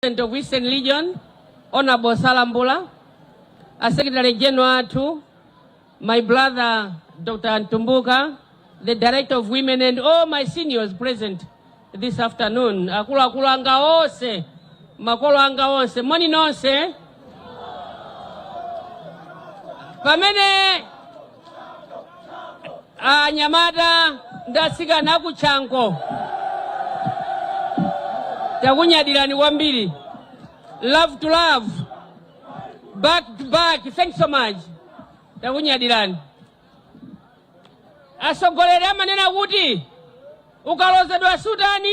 President of Eastern Region, Honorable Salambula, a Secretary General Atu, my brother Dr. Antumbuka, the Director of Women and all my seniors present this afternoon. Akuluakulu anga onse, makolo anga onse, moni nonse. Pamene anyamata ndi atsikana aku Chanco takunyadirani kwambiri love to love back to back thanks so much takunyadirani atsogoleri amanena kuti ukalozedwa sutani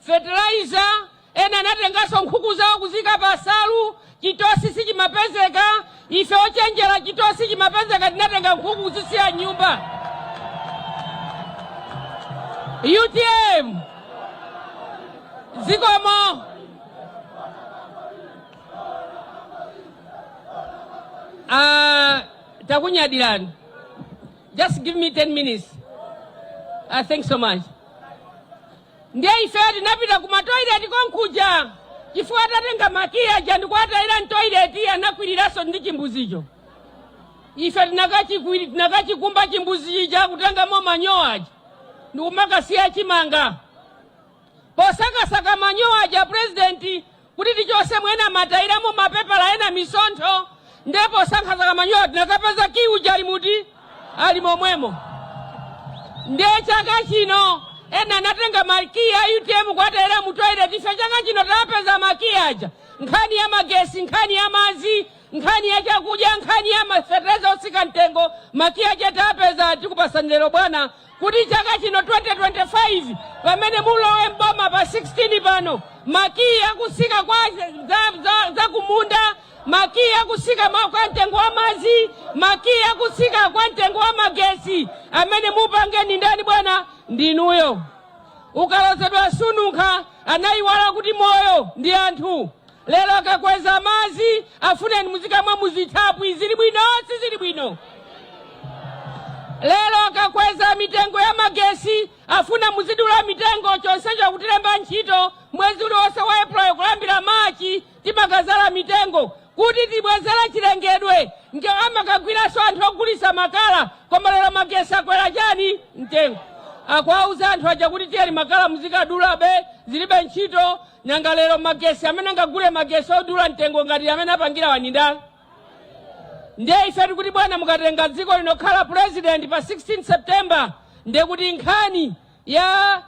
fertilizer, ena anatenganso nkhuku zawo kuziika pa nsalu, chitosi sichimapezeka. Ife ochenjera chitosi chimapezeka, tinatenga nkhuku kuzisiya m'nyumba. UTM zikomo. Ah, takunyadirani. Just give me 10 minutes. I thank so much. ndiye ifeyo tinapita ku matoileti konkuja chifukwa atatenga makiyi aja ndikuwatayira mtoileti anakwiriranso ndi chimbuzicho ife tinakachikumba chimbuzi chija kutengamo manyowa aja ndikumakathira chimanga posakasaka manyowa aja purezidenti kuti tichosemo ena matayiramo mapepala ena misontho nde posankha zakamanyowa tinakapeza kiyi uja ali muti ali momwemo nde chaka chino ena anatenga makiyi a utm kuwatayira mu toilet ife chaka chino tapeza makiyi aja nkhani ya magesi nkhani ya madzi nkhani ya chakudya nkhani ya mafertilizer otsika mtengo makiyi aja tapeza tikupasani lero bwana kuti chaka chino 2025 pamene mulowe mboma pa 16 pano makiyi akusika kwa za, za, za kumunda makiyi akusika ma, kwa mtengo wa mazi makiyi akusika kwa mtengo wa magesi amene mupange ni ndani bwana ndinuyo ukalozedwa sununkha anayiwala kuti moyo ndi anthu Lero akakweza madzi afuna muzikamwa m'zithaphwi zili bwino sizili bwino? Lero akakweza mitengo ya magesi afuna muzidula mitengo chonsecho akutilemba ntchito mwezi uliwonse wa April kuyambira March timakazala mitengo kuti tibwezere chilengedwe nde amakagwiranso anthu ogulisa makala koma lero magesi akwera chani mtengo akwauza anthu aja kuti tiyeni makala muzikadulabe zilibe ntchito Nanga lero magesi amene angagule magesi odula mtengo ngati amene apangirawa ndi ndani? Ndiye ife tikuti bwana, mukatenga dziko lino kukhala president pa 16 September, ndiye kuti nkhani ya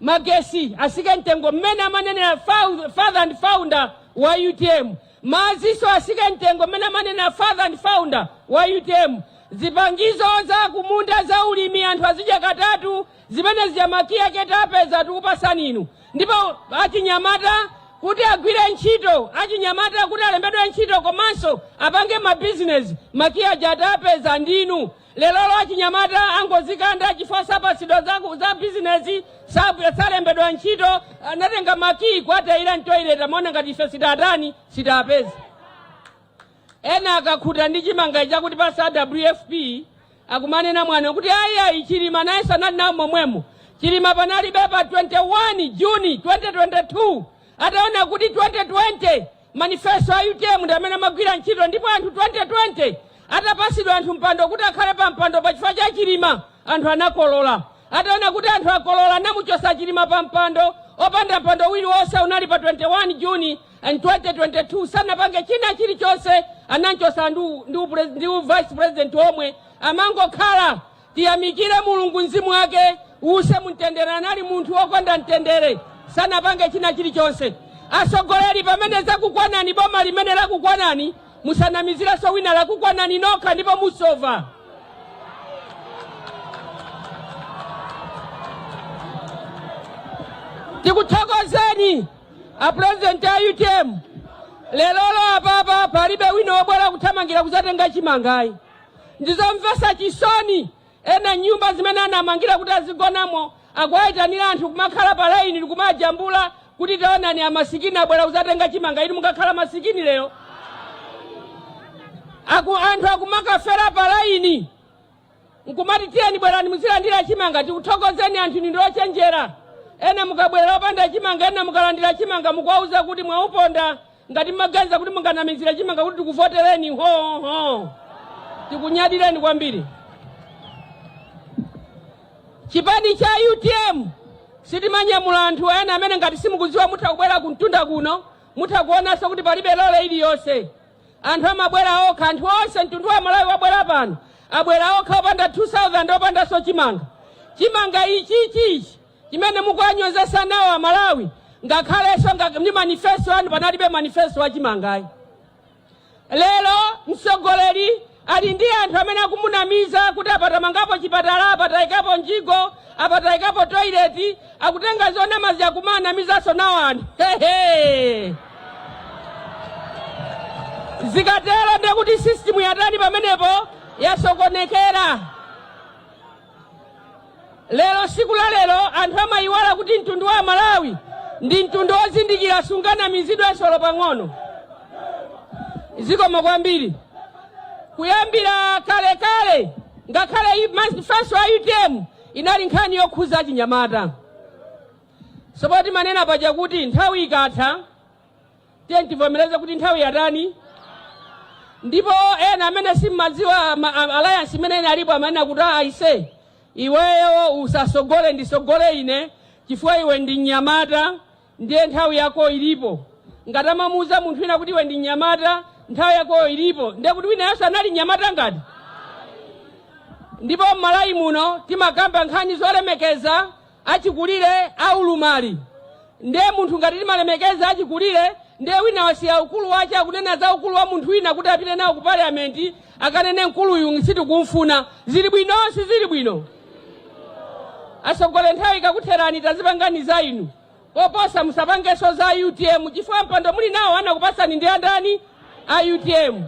magesi asike mtengo mmene amanenera fou- father and founder wa UTM. Maziso asike mtengo mmene amanenera father and founder wa UTM. Zipangizo za kumunda za ulimi anthu azidya katatu zimene zija makiyi ake tawapeza tikupasani inu. ndipo achinyamata kuti agwire ntchito achinyamata kuti alembedwe ntchito komanso apange mabizinesi makiyi aja tapeza ndinu lerolo achinyamata angozikanda chifukwa sapatsidwa za, za bizinesi sa- salembedwa ntchito anatenga makiyi kuwatayira mtoileti amaona ngati ife sitatani sitapeza Ena akakhuta ndi chimanga chakutipatsa a WFP akumanena mwano kuti ayi ayi Chilima naye sanali nawo momwemo. Chilima panalibe pa 21 June 2022 ataona kuti 2020 manifesto a UTM ndi amene amagwira ntchito ndipo anthu 2020 atapasidwa anthu mpando kuti akhale pa mpando pa chifukwa cha Chilima anthu anakolola. Ataona kuti anthu akolola anamuchosa Chilima pa mpando opanda mpando uliwonse unali pa 21 June 2022 sanapange china chilichonse ananchosa ndi u- ndi u pres- ndi u vice president omwe amangokhala tiyamikire mulungu mzimu wake uuse mumtendere anali munthu wokonda mtendere sanapange china chilichonse atsogoleri pamene zakukwanani boma limene lakukwanani musanamizirenso wina lakukwanani nokha ndipo musova tikuthokozeni a president a utm lerolo apapa palibe wina wobwera kuthamangira kudzatenga chimangayi ndizomvesa chisoni ena nyumba zimene anamangira kuti azigonamo akuwayitanira anthu kumakhala pa laini likumajambula kuti taonani amasikini abwera kudzatenga chimanga inu mungakhale masikini lero anthu akumakafera pa laini nkumati tiyeni bwerani muzilandira chimanga tikuthokozeni anthu inu ndinu ochenjera ena mukabwerera opanda chimanga ena mukalandira chimanga mukuwauza kuti mwauponda ngati mmaganiza kuti munganamizira chimanga kuti tikuvotereni hoho tikunyadireni kwambiri chipani cha utm sitimanyamula anthu ena amene ngati simukudziwa mutha kubwera kumtunda kuno mutha kuonanso kuti palibe lole iliyonse anthu amabwera okha anthu onse mtundu wa malawi wabwera pano abwera okha opanda 2000 opandanso chimanga chimanga ichichichi chimene mukuwanyozesa nawo amalawi ngakhalenso nga- ndi manifesto anu panalibe manifesto wa chimangayi lero mtsogoleri Ali ndi anthu amene akumunamiza kuti apa tamangapo chipatala, apa taikapo njigo, apa taikapo toileti, akutenga zonamazi akumanamizanso nawo anthu hehe. Zikatero ndekuti sisitimu yatani pamenepo yasokonekera. lero siku la lero anthu amayiwala kuti mtundu wa malawi ndi mtundu wozindikira sunganamizidwe solo pang'ono zikomo kwambiri kuyambira kale kale ngakhale manifesto a utm inali nkhani yokhuza achinyamata sopoti manena paja kuti nthawi ikatha tiyeni tivomereze kuti nthawi yatani ndipo ena amene simmadziwa alliance imene inalipo amanena kuti aise iweyo usasogole ndisogole ine chifukwa iwe ndi mnyamata ndiye nthawi yako ilipo ngati amamuuza munthu wina kuti iwe ndi mnyamata nthawi yako ilipo ndiye kuti winayenso anali mnyamata ngati ndipo m'malawi muno timakamba nkhani zolemekeza achikulire a ulumali nde munthu ngati timalemekeza achikulire nde wina wasiya ukulu wache akunena za ukulu wa munthu wina kuti apite nawo ku parliament akanene mkuluyu sitikumfuna zili bwino sizili bwino asogole nthawi ikakutherani tadzipangani za inu koposa musapangenso za utm chifukwa mpando muli nawo anakupasani ndi andani a utm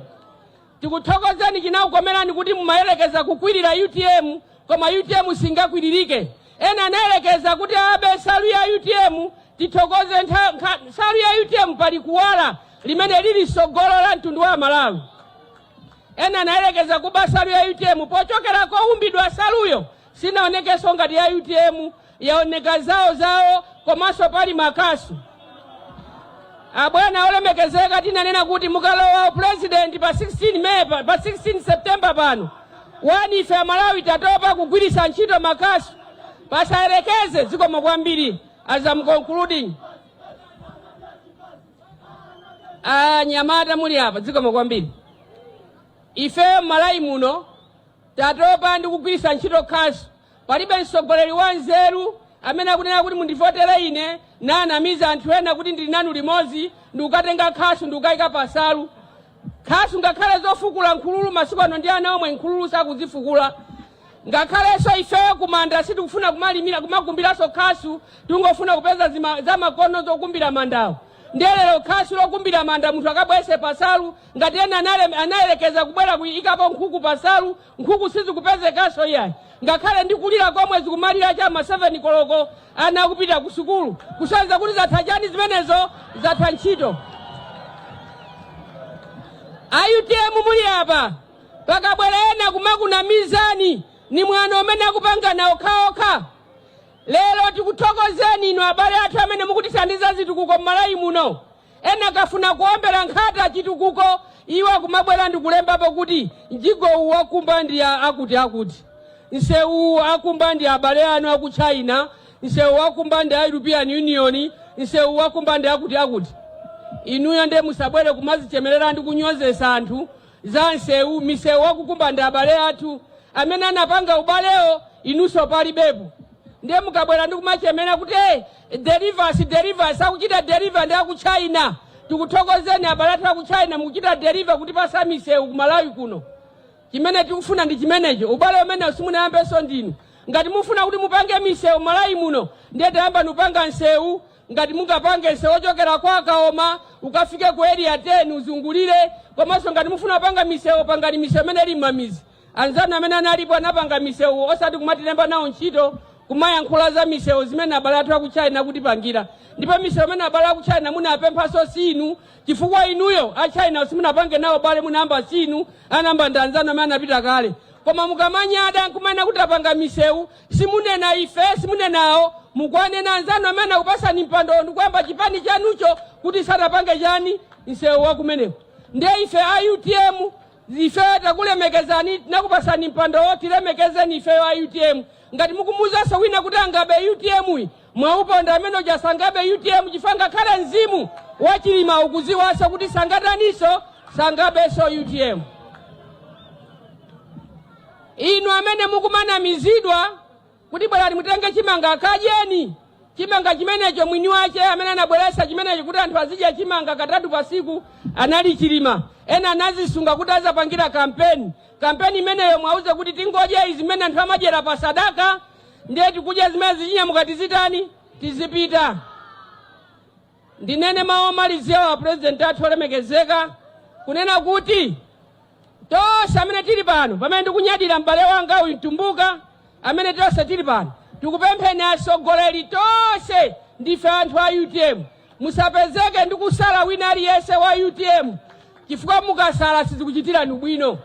Tikuthokozeni chinakukomerani kuti mumayerekeza kukwirira utm koma utm singakwilirike ena anayerekeza kuti abe nsalu ya utm tithokoze nsalu ya utm pali kuwala limene lili sogolo la mtundu wa amalawi ena anayerekeza kuba nsalu ya utm pochokera koumbidwa nsaluyo sinaonekenso ngati ya utm yaoneka zawo zawo komanso pali makasu. Abwana olemekezeka tinanena kuti mukalowa u president pa 16 May pa, pa 16 September pano wani ife amalawi tatopa kugwiritsa ntchito makasu pasayerekeze zikomo kwambiri as I'm concluding anyamata muli apa zikomo kwambiri ife mmalawi muno tatopa ndi kugwiritsa ntchito khasu Palibe mtsogoleri wanzeru amene akunena kuti mundivotere ine nanamiza anthu ena kuti ndili nanu limodzi ndikukatenga khasu ndikukayika pansalu. Khasu ngakhale zofukula nkhululu masiku ano ndi ana omwe nkhululu sakuzifukula. Ngakhalenso ifeyo kumanda sitikufuna kumalimira kumakumbiranso khasu tikungofuna kupeza zamakono zokumbira mandawo. Ndiye lero khasu lokumbira manda munthu akabweretse pansalu ngati ena anayerekeza kubwera kuyikapo nkhuku pansalu Nkhuku sizikupezekanso iyayi. Ngakhale ndi kulira komwe zikumalira cha ma 7 koloko ana akupita kusukulu. Kusonyeza kuti zatha chani zimenezo? Zatha ntchito. A utm muli apa, pakabwera ena kumakunamizani ni mwano umene akupangana okhaokha. Lero tikuthokozeni inu abale athu amene mukutithandiza zitukuko m'Malawi muno. Ena akafuna kuombera nkhata chitukuko iwo akumabwera ndikulembapo kuti mjigo uwu akumba ndi a akuti akuti, msewu uwu akumba ndi abale anu aku China, msewu akumba ndi a European Union, msewu akumba ndi akuti akuti. Inuyo nde musabwere kumazichemerera ndi kunyozesa anthu za msewu, misewu akukumba ndi abale athu amene anapanga ubalewo, inuso palibepo. Nde mukabwera ndi kumachemerera kuti hey, Derivasi derivasi akuchita deliver ndi aku China. Tikuthokozeni abale athu aku China mukuchita deliver kutipasa misewu ku Malawi kuno. Chimene tikufuna ndi chimenecho. Ubale umenewu simunayambenso ndinu. Ngati mufuna kuti mupange misewu Malawi muno ndiye tayambani kupanga msewu ngati mungapange msewu ochokera kwa Kaoma ukafike ku area 10 uzungulire komanso ngati mufuna kupanga misewu pangani misewu imene ili m'mamizi. Anzanu amene analipo anapanga misewu osati kumatilemba nawo ntchito kumayankhula za misewu zimene abale athu aku China akutipangira ndipo misewu imene abale aku China munapemphanso si inu chifukwa inuyo a China simunapange nawo ubale munayamba si inu anayamba ndi anzanu amene anapita kale koma mukamanyada nkumanena kuti apanga misewu simunena ife simunenawo mukwanena anzanu amene akupasani mpando ndikuyamba chipani chanucho kuti sanapange chani msewu wakumeneko ndiye ife a utm Ifeyo takulemekezani nakupasani mpandowo tilemekezeni ifeyo a utm ngati mukumuuzaso wina kuti angabe utm yi mwauponda amene uja sangabe utm chifukwa ngakhale mzimu wa chilima ukuziwaso kuti sangataniso sangabeso utm inu amene mukumanamizidwa kuti bwerani mutenge chimanga kadyeni chimanga chimenecho mwini wache amene anabweretsa chimenecho kuti anthu azidya chimanga katatu pasiku anali chilima ena anazisunga kuti azapangira kampeni kampeni imeneyo mwauze kuti tingodya izi zimene anthu amadyera pa sadaka ndiye tikudya zimene za Chilima mukatiitana tizipita Ndinene mawu omaliza awa a President athu olemekezeka kunena kuti tonse amene tili pano pamene ndikunyadira m'bale wanga uyu Mtumbuka amene tonse tili pano tikupempheni atsogoleri tonse ndife anthu a utm musapezeke ndikusala wina aliyense wa utm chifukwa mukasala sizikuchitirani ubwino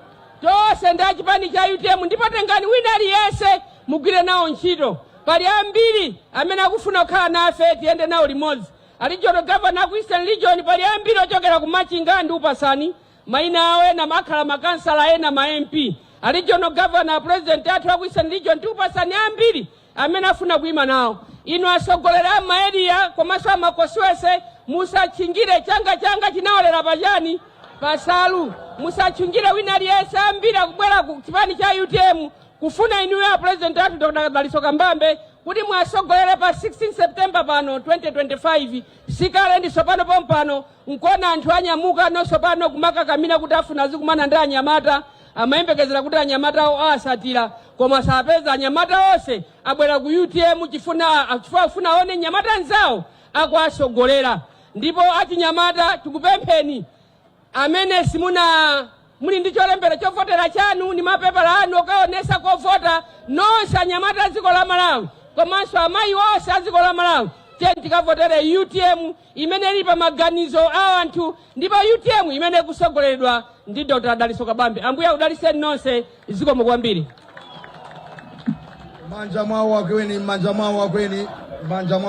tonse ndi achipani cha utm ndipo tengani wina aliyense mugwire nawo ntchito pali ambiri amene akufuna kukhala nafe tiyende nawo limodzi a Regional Governor aku Eastern region pali ambiri ochokera ku machinga ndikupasani maina awo ena anakhala makhansala ena ma mp a Regional Governor president athu aku eastern region tikupasani ambiri amene afuna kuima nawo. Inu atsogoleri a m'maeriya komanso a makonsituwense musatchingire. Changa changa chinaolera pa chani? Pa tsalu. Musatchingire wina aliyense. Ambiri akubwera ku chipani cha utm kufuna inuyo a president athu Dr. Dalitso Kabambe kuti muwatsogolere pa 16 September pano 2025 sikale ndi tsopano pompano Nkona anthu anyamuka ndi tsopano kumakakamira kuti afuna azikumana ndi anyamata amayembekezera kuti anyamatawo awatsatira koma sapeza anyamata onse abwera ku utm chifuna akufuna aone mnyamata mnzawo akuwatsogolera ndipo achinyamata tikupempheni amene simuna Muli ndi cholembera chovotera chanu ndi mapepala anu okaonesa kovota nonse anyamata a dziko la Malawi komanso amayi onse a dziko la Malawi tiyeni tikavotere utm imene ili pa maganizo a anthu ndipo utm imene ikutsogoleredwa ndi Dr. Dalitso Kabambe ambuye akudalitseni nonse zikomo kwambiri Manja mwawo akweni, manja mwawo akweni, manja mwawo.